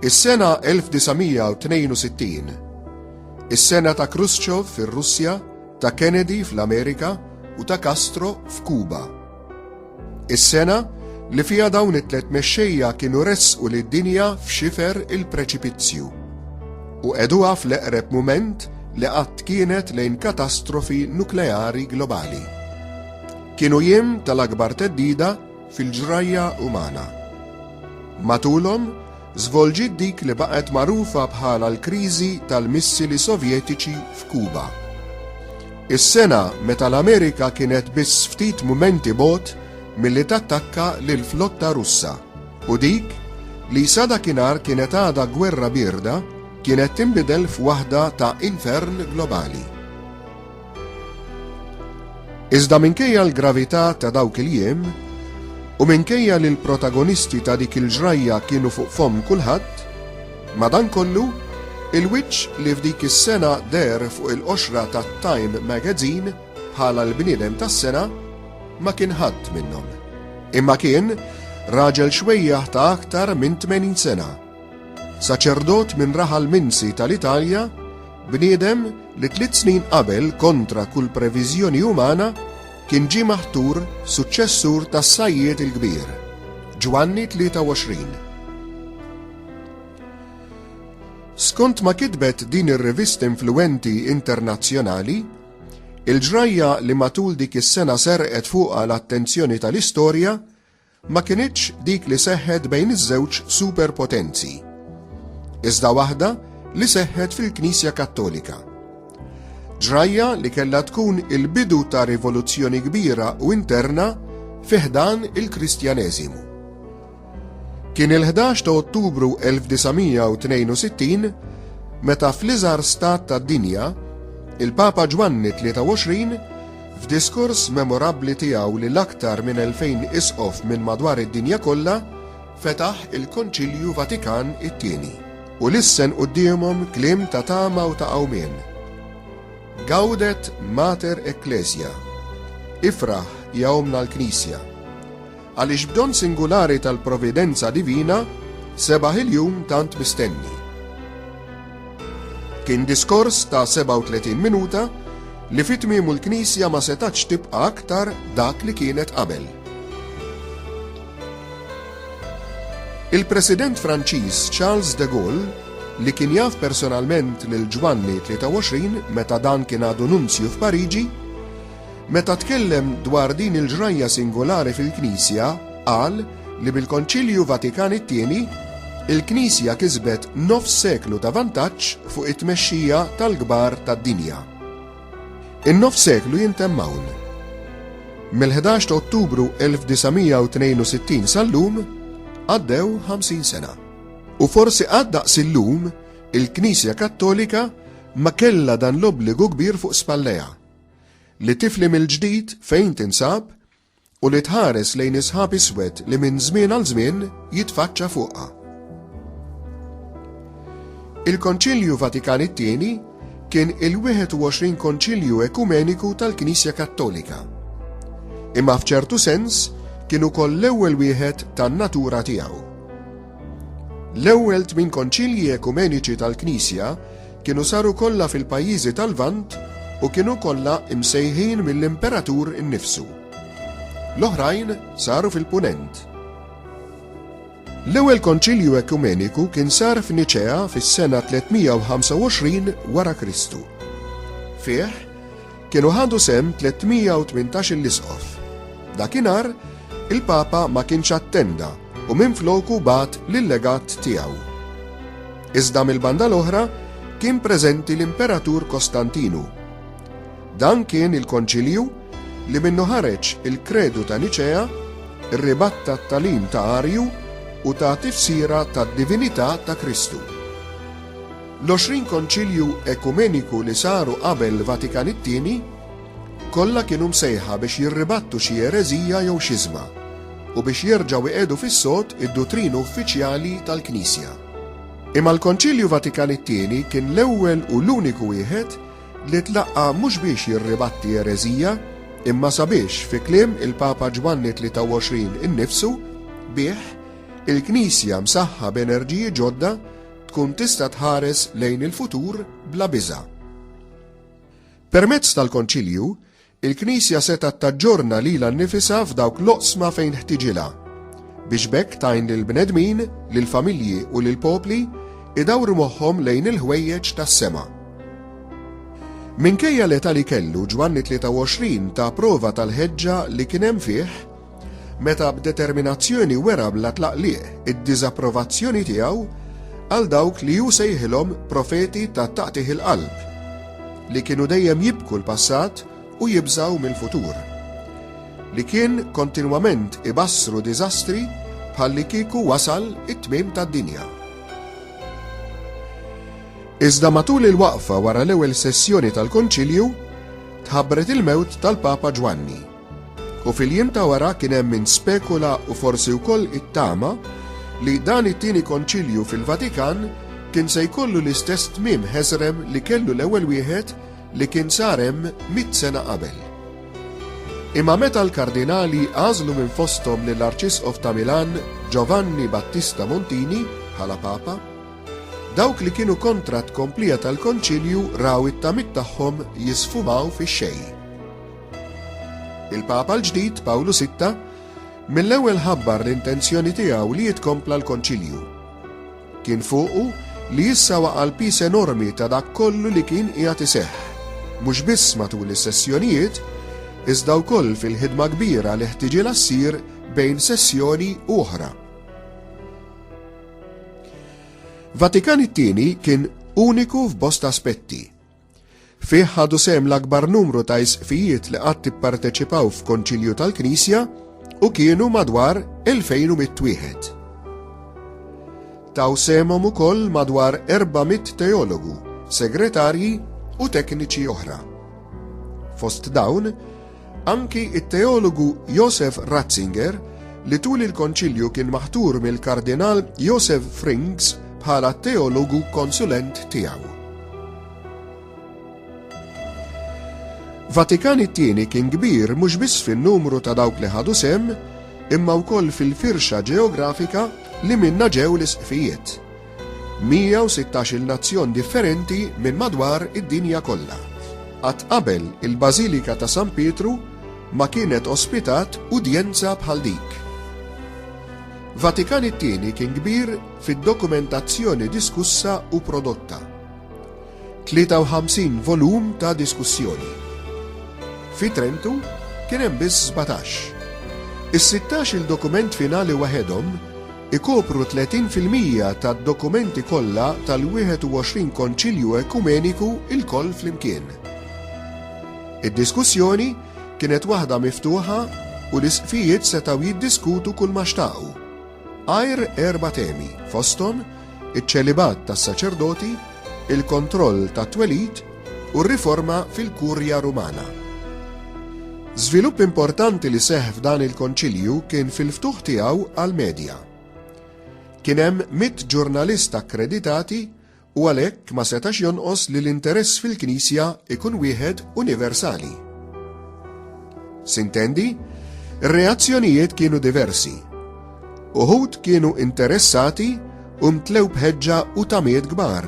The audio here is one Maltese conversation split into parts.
Is-sena 1962, is-sena ta' Khrushchev fir-Russja, ta' Kennedy fl-Amerika u ta' Castro f'Kuba. Is-sena li fiha dawn it-tliet mexxejja kienu ressqu lid-dinja f'xifer il-preċipizzju u qegħduha fl-eqreb mument li qatt kienet lejn katastrofi nukleari globali. Kienu jiem tal-akbar theddida fil-ġrajja umana. Matulhom, żvolġiet dik li baqgħet magħrufa bħala l-kriżi tal-missili Sovjetiċi f'Kuba. Is-sena meta l-Amerika kienet biss ftit mumenti bogħod milli tattakka lill-flotta Russa u dik li sa dakinhar kienet għadha gwerra bierda kienet tinbidel f'waħda ta' infern globali. Iżda minkejja l-gravità ta' dawk il-jiem, u minkejja li l-protagonisti ta' dik il-ġrajja kienu fuq fomm kulħadd, madankollu, il-wiċċ li f'dik is-sena deher fuq il-qoxra ta' Time Magazine bħala l-bniedem tas-sena ma kien ħadd minnhom. Imma kien raġel xwejjaħ ta' aktar minn 80 sena. Saċerdot minn raħal Minsi tal-Italja, bniedem li tliet snin qabel kontra kull previżjoni umana kien ġie maħtur suċċessur tas-Sajjied il-Kbir, Ġwanni 23. Skont ma kitbet din ir-rivista influwenti internazzjonali, il-ġrajja li matul dik is-sena serqet fuqha l-attenzjoni tal-istorja ma kinitx dik li seħħet bejn iż-żewġ superpotenzi, iżda waħda li seħħet fil-Knisja Kattolika. Ġrajja li kellha tkun il-bidu ta' rivoluzzjoni kbira u interna fi ħdan il-Kristjaneżimu. Kien il-11 ta' Ottubru 1962 meta fl-iżgħar stat tad-dinja, il-Papa Ġwanni 23 F'diskors memorabbli tiegħu lil aktar minn 2,000 Isqof minn madwar id-dinja kollha, fetaħ il-Konċilju Vatikan it-Tieni u lissen quddiemhom kliem ta' tama u ta' qawmien, Gaudet Mater Ecclesia, Ifraħ, ja Ommna l-Knisja. Għaliex b'don singulari tal-providenza divina sebaħ il-jum tant mistenni. Kien diskors ta' 37 minuta li fi tmiemu l-Knisja ma setgħetx tibqa' aktar dak li kienet qabel. Il-President Franċiż Charles de Gaulle, li kien jaf personalment lil Ġwanni 23 meta dan kien għadu nunzju f'Pariġi, Meta tkellem dwar din il-ġrajja singolari fil-Knisja, qal li bil-Konċilju Vatikan it-Tieni, il-Knisja kisbet nofs seklu ta' vantaġġ fuq it-tmexxija tal-kbar tad-dinja. In-nofs seklu jintemm hawn. Mill-11 ta' Ottubru 1962 sal-lum għaddew 50 sena. U forsi qatt daqs illum il-Knisja Kattolika ma kellha dan l-obbligu kbir fuq spallejha. Li tifli mill-ġdid fejn tinsab u li tħares lejn is-sħab iswed li minn żmien għal żmien jitfaċċa fuqha. Il-Konċilju Vatikan it-Tieni kien il-21 Konċilju Ekumeniku tal-Knisja Kattolika. Imma f'ċertu sens kien ukoll l-ewwel wieħed tan-natura tiegħu. L-ewwel tmien Konċilji Ekumeniċi tal-Knisja kienu saru kollha fil-pajjiżi tal-Lvant u kienu kollha msejħin mill-Imperatur innifsu. L-oħrajn saru fil-Punent. L-ewwel Konċilju Ekumeniku kien sar f'Niċea fis-sena 325 wara Kristu. Fih, Kienu ħadu sehem 318-il Isqof. Dakinhar, il-Papa ma kienx attenda u minfloku bagħat l-Legat tiegħu. Iżda mill-banda l-oħra kien preżenti l-Imperatur Kostantinu. Dan kien il-Konċilju li minnu ħareġ il-Kredu ta' Niċea, rribatta t-tagħlim ta' Arju u ta' tifsira tad-divinità ta' Kristu. L-għoxrin Konċilju Ekumeniku li saru qabel Vatikan it-Tieni kollha kienu msejħa biex jirribattu xi ereżija jew xiżma u biex jerġgħu iqiegħdu fis-sod id-dutrina uffiċjali tal-Knisja. Imma l-Konċilju Vatikan it-Tieni kien l-ewwel u l-uniku wieħed li tlaqqa' mhux biex jirribatti ereżija imma sabiex, fi kliem il-Papa Ġwanni 23 innifsu, bih, il-Knisja msaħħa b'enerġiji ġodda tkun tista' tħares lejn il-futur bla biża'. Permezz tal-Konċilju, il-Knisja setgħet taġġorna lilha nnifisha f'dawk l-oqsma fejn ħtiġilha, biex b'hekk tgħin lill-bnedmin, lill-familji u lill-popli idawru moħħhom lejn il-ħwejjeġ tas-sema. Minkejja l-età li kellu, Ġwanni 23 ta prova tal-ħeġġa li kien hemm fih Meta b'determinazzjoni wera bla tlaqliq id-diżapprovazzjoni tiegħu għal dawk li hu sejħilhom profeti ta' taqtigħ il-qalb, li kienu dejjem jibku l-passat u jibżgħu mill-futur, li kien kontinwament ibassru diżastri bħallikieku wasal it-tmiem tad-dinja. Iżda matul il-waqfa wara l-ewwel sessjoni tal-Konċilju, tħabbret il-mewt tal-Papa Ġwanni. U fil-jiem ta' wara kien hemm min spekula u forsi wkoll ittama li dan it-Tieni Konċilju fil-Vatikan kien se jkollu l-istess tmiem ħeżrem li kellu l-ewwel wieħed li kien sar hemm mitt sena qabel. Imma meta l-Kardinali għażlu minn fosthom lill-Arċisqof ta' Milan Giovanni Battista Montini bħala Papa, dawk li kienu kontra t-tkomplija tal-Konċilju raw it-tamiet tagħhom jisfumaw fix-xejn. Il-Papa l-ġdid, Pawlu Sitta, mill-ewwel ħabbar l-intenzjoni tiegħu li jitkompla l-Konċilju. Kien fuqu li issa waqa' l-pis enormi ta' dak kollu li kien qiegħed iseħħ, mhux biss matul is-sessjonijiet, iżda wkoll fil-ħidma kbira li ħtiġilha ssir bejn sessjoni u oħra. Vatikan it-tieni kien uniku f'bosta aspetti, Fih ħadu sehem l-akbar numru ta' isqfijiet li qatt ipparteċipaw f'Konċilju tal-Knisja u kienu madwar 2100 wieħed. Taw semhom ukoll madwar 400 teologu, segretarji u tekniċi oħra. Fost dawn, Anki t-teologu Josef Ratzinger, li tul il-Konċilju kien maħtur mill-Kardinal Josef Frings bħala t-teologu konsulent tiegħu. Vatikan it-tieni kien kbir mhux biss fin-numru ta' dawk li ħadu sem, imma wkoll fil-firxa ġeografika li minna ġew l-isqfijiet, 116-il nazzjon differenti minn madwar id-dinja kollha. Qatt qabel il-Bażilika ta' San Pietru ma kienet ospitat udjenza bħal dik. Vatikan it-Tieni kien kbir fid-dokumentazzjoni diskussa u prodotta. 53 volum ta' diskussjoni. Fi Trentu kien hemm biss sbatax. Is-sittax-il dokument finali waħedhom ikopru 30 fil-mija tad-dokumenti kollha tal-21 Konċilju Ekumeniku lkoll flimkien. Id-diskussjoni kienet waħda miftuħa u l-Isqfijiet setgħu jiddiskutu kulma xtaqu, għajr erba' temi, fosthom iċ-ċelibat tas-saċerdoti, il-kontroll tat-twelid u r-riforma fil-Kurja Rumana. Żvilupp importanti li seħħ f'dan il-Konċilju kien fil-ftuħ tiegħu għall-medja. Kien hemm mitt ġurnalist akkreditati u għalhekk ma setax jonqos li l-interess fil-Knisja ikun wieħed universali. Sintendi, ir-reazzjonijiet kienu diversi. Uħud kienu interessati u mtlew bħeġġa u tamiet kbar.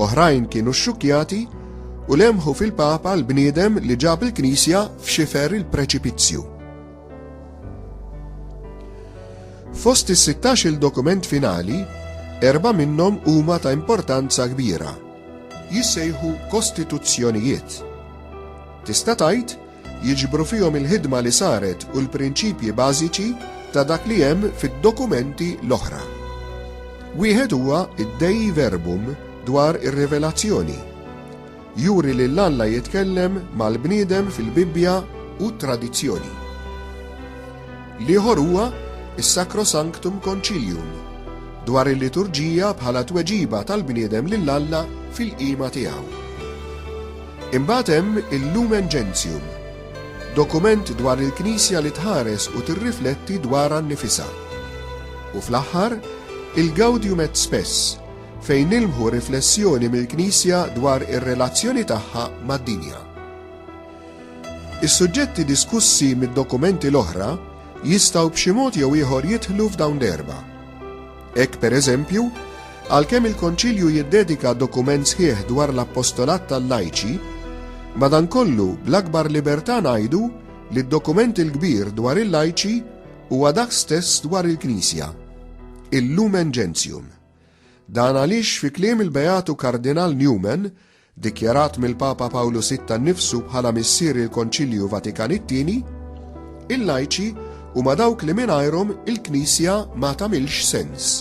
Oħrajn kienu xxukjati u lemħu fil-Papa l-bniedem li ġab il-Knisja f'xifer il-preċipizzju. Fost is-16 il-dokument finali, erba' minnhom huma ta' importanza kbira. Jissejħu kostituzzjonijiet. Tista' tgħid jiġbru fihom il-ħidma li saret u l-prinċipji bażiċi ta' dak li hemm fid-dokumenti l-oħra. Wieħed huwa d-Dei Verbum dwar ir-Rivelazzjoni. Juri lil Alla jitkellem mal-bniedem fil-Bibbja u t-tradizzjoni. L-ieħor huwa s-Sacrosanctum Concilium dwar il-liturġija bħala tweġiba tal-bniedem lil Alla fil-qima tiegħu. Imbagħad hemm il-Lumen Gentium, dokument dwar il-Knisja li tħares u tirrifletti dwarha nnifisha. U fl-aħħar, il-Gaudium et Spes, fejn nilmħu riflessjoni mill-Knisja dwar ir-relazzjoni tagħha mad-dinja. Is-suġġetti diskussi mid-dokumenti l-oħra jistgħu b'xi mod jew ieħor jidħlu f'dawn l-erba'. Hekk, per eżempju, għalkemm il-Konċilju jiddedika dokument sħiħ dwar l-appostolat tal-lajċi, madankollu bl-akbar libertà ngħidu li d-dokument il-kbir dwar il-lajċi huwa dak stess dwar il-Knisja, il-Lumen Gentium. Dan għaliex fi kliem il-Beatu Kardinal Newman, dikjarat mill-Papa Pawlu Sitta nnifsu bħala missier il-Konċilju Vatikan it-Tieni, il-lajċi huma dawk li mingħajrhom il-Knisja ma tagħmilx sens.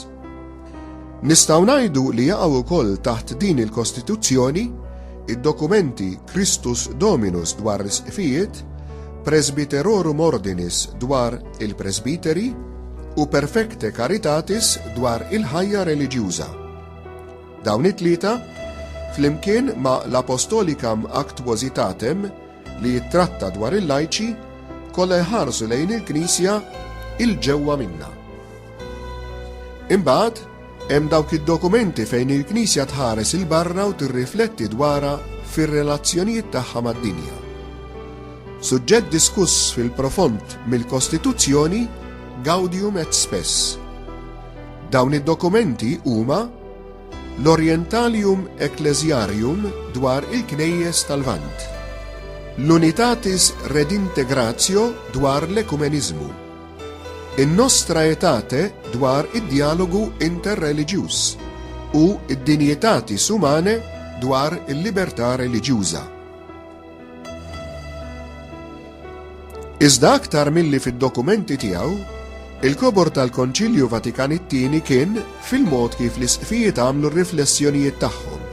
Nistgħu ngħidu li jaqgħu wkoll taħt din il-Kostituzzjoni id-dokumenti Christus Dominus dwar l-Isqfijiet, Presbyterorum Ordinis dwar il-Presbiteri u Perfecte Caritatis dwar il-ħajja reliġjuża. Dawn it-tlieta, flimkien ma' l-Apostolicam Actuositatem, li jittratta dwar il-lajċi, kollha jħarsu lejn il-Knisja 'il ġewwa minnha. Imbagħad, hemm dawk id-dokumenti fejn il-Knisja tħares 'il barra u tirrifletti dwarha fir-relazzjonijiet tagħha mad-dinja. Suġġett diskuss fil-profond mill-Kostituzzjoni Gaudium et Spes. Dawn id-dokumenti huma l-Orientalium Ecclesiarium dwar il-Knejjes tal-Lvant, l-Unitatis Redintegratio dwar l-Ekumeniżmu, in-Nostra Aetate dwar id-Djalogu Interreliġjuż u d-Dignitatis Humanae dwar il-Libertà Reliġjuża. Iżda aktar milli fid-dokumenti tiegħu, il-kobor tal-Konċilju Vatikan it-Tieni kien fil-mod kif l-isqfijiet għamlu r-riflessjonijiet tagħhom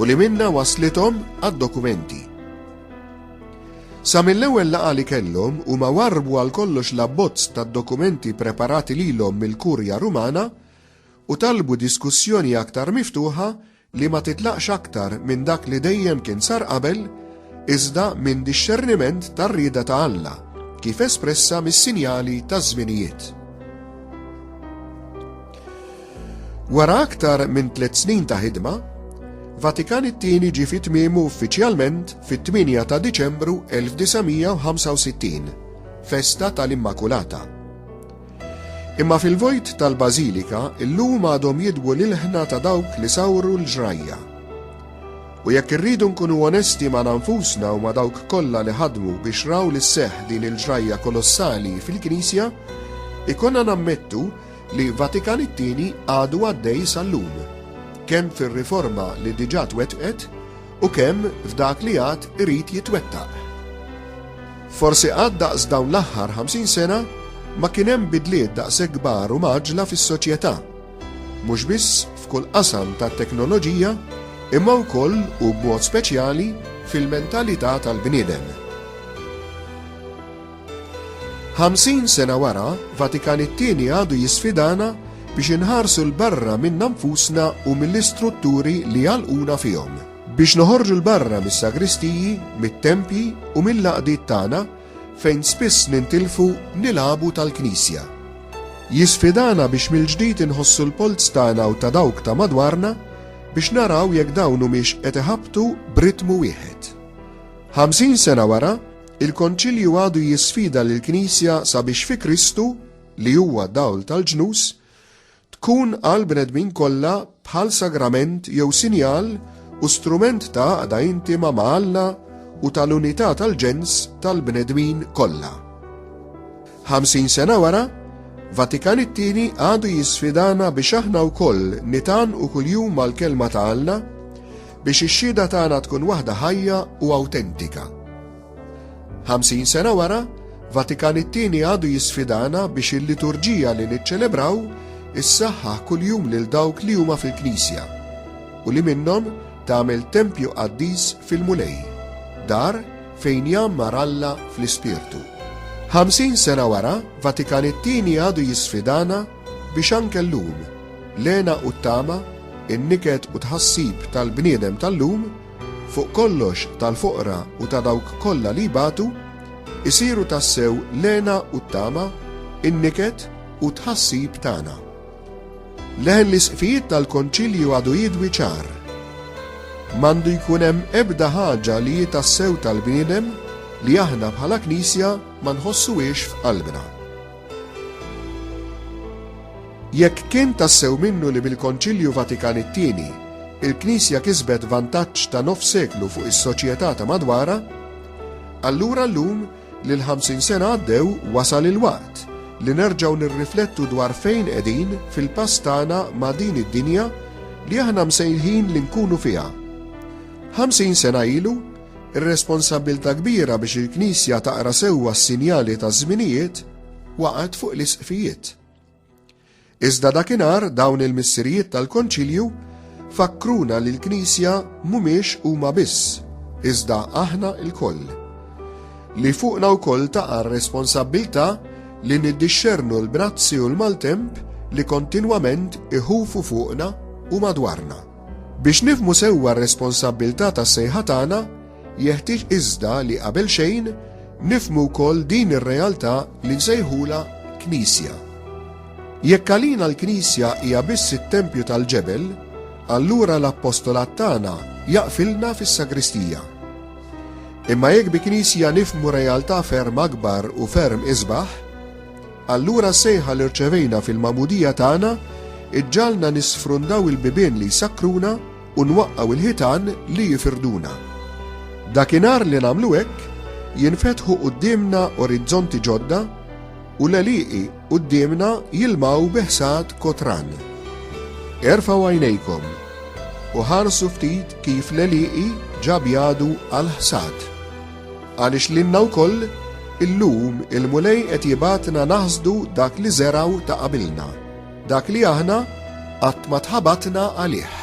u li minna waslithom għad-dokumenti. Sa mill-ewwel laqgħa li kellhom huma warbu għal kollox l-abbozz tad-dokumenti preparati lilhom mill-Kurja Rumana u talbu diskussjoni aktar miftuħa li ma titlaqx aktar minn dak li dejjem kien sar qabel, iżda minn dixxerniment tar-rieda ta' Alla, kif espressa mis-sinjali taż-żminijiet. Wara aktar minn tliet snin ta' ħidma, Vatikan it-Tieni ġie fi tmiemu uffiċjalment fit-8 ta' Diċembru 1965, festa tal-Immakulata. Imma fil-vojt tal-Bażilika llum għadhom jidwu l-ilħna ta' dawk li sawru l-ġrajja. U jekk irridu nkunu onesti magħna nfusna u ma' dawk kollha li ħadmu biex raw li sseħħ din il-ġrajja kolossali fil-Knisja, ikollna nammettu li Vatikan it-Tieni għadu għaddej sal-lum, kemm fir-riforma li diġà twettqet U kemm f'dak li għad irid jitwettaq. Forsi qatt daqs dawn l-aħħar 50 sena ma kien hemm bidliet daqshekk kbar u mgħaġġla fis-soċjetà, mhux biss f'kull qasam tat-teknoloġija imma wkoll u b'mod speċjali fil-mentalità tal-bniedem. Ħamsin sena wara, Vatikan it-Tieni għadu jisfidana biex inħarsu 'l barra minna nfusna u mill-istrutturi li jagħlquna fihom. Biex noħorġu 'l barra mis-sagristiji, mit-tempji u mill-għaqdiet tagħna fejn spiss nintilfu nil-għabu tal-Knisja. Jisfidana biex mill-ġdid inħossu l-polz tagħna u ta' dawk ta' madwarna biex naraw jekk dawn humiex qed iħabbtu b'ritmu wieħed. Ħamsin sena wara, Il-Konċilju għadu jisfida lill-Knisja sabiex fi Kristu, li huwa dawl tal-ġnus, tkun għall-bnedmin kollha bħal sagrament jew sinjal u strument ta' għaqda intima ma' Alla u tal-unità tal-ġens tal-bnedmin kollha. Ħamsin sena wara, Vatikan it-Tieni għadu jisfidana biex aħna wkoll nitgħannqu kuljum mal-Kelma ta' Alla, Biex ix-xhieda tagħna tkun waħda ħajja u awtentika. Ħamsin sena wara, Vatikan it-Tieni għadu jisfidana biex il-liturġija li niċċelebraw issaħħaħ kuljum lil dawk li huma fil-Knisja u li minnhom tagħmel tempju qaddis fil-Mulej, dar fejn jgħammar Alla fl-ispirtu. Ħamsin sena wara, Vatikan it-Tieni għadu jisfidana Biex anke llum, l-hena u t-tama, in-niket u t-tħassib tal-bniedem tal-lum, fuq kollox tal-foqra u ta' dawk kollha li jbatu, isiru tassew l-hena u t-tama, in-niket u t-tħassib tagħna. Leħen l-isqfijiet tal-Konċilju għadu jidwi ċar. M'għandu jkun hemm ebda ħaġa li hi tassew tal-bniedem li aħna bħala Knisja ma nħossuhiex f'qalbna. Jekk kien tassew minnu li bil-Konċilju Vatikan it-Tieni, il-Knisja kisbet vantaġġ ta' nofs seklu fuq is-soċjetà ta' madwarha, allura llum li l-ħamsin sena għaddew wasal il-waqt li nerġgħu nirriflettu dwar fejn qegħdin fil-pass tagħna ma' din id-dinja li aħna msejħin li nkunu fiha. Ħamsin sena ilu, Ir-responsabbiltà kbira biex il-Knisja taqra sewwa s-sinjali taż-żminijiet waqgħet fuq l-Isqfijiet. Iżda dakinhar dawn il-Missirijiet tal-Konċilju fakkruna li l-Knisja mhumiex huma biss, iżda aħna lkoll. Li fuqna wkoll taqa' r-responsabbiltà li niddixxernu l-brazzi u l-maltemp li kontinwament iħufu fuqna u madwarna. Biex nifhmu sewwa r-responsabbiltà tas-sejħa tagħna, jeħtieġ iżda li qabel xejn nifhmu wkoll din ir-realtà li nsejħulha Knisja. Jekk għalina l-Knisja hija biss it-tempju tal-ġebel, allura l-appostolat tagħna jaqfilna fis-sagristija. Imma jekk bi Knisja nifhmu realtà ferm akbar u ferm isbaħ, Allura s-sejħa li rċevejna fil-magħmudija tagħna ġġagħalna nisfrundaw il-bibien li jsakkruna u nwaqqgħu l-ħitan li jfirduna. Dakinhar li nagħmlu hekk, jinfetħu quddiemna orizzonti ġodda u l-għelieqi quddiemna jilmgħu bi ħsad kotran. Erfgħu għajnejkom u ħarsu ftit kif l-għelieqi ġa bjadu għall-ħsad. Għaliex lilna wkoll, illum, il-Mulej qed jibgħatna naħsdu dak li żergħu ta' qabilna, dak li aħna qatt ma tħabatna għalih.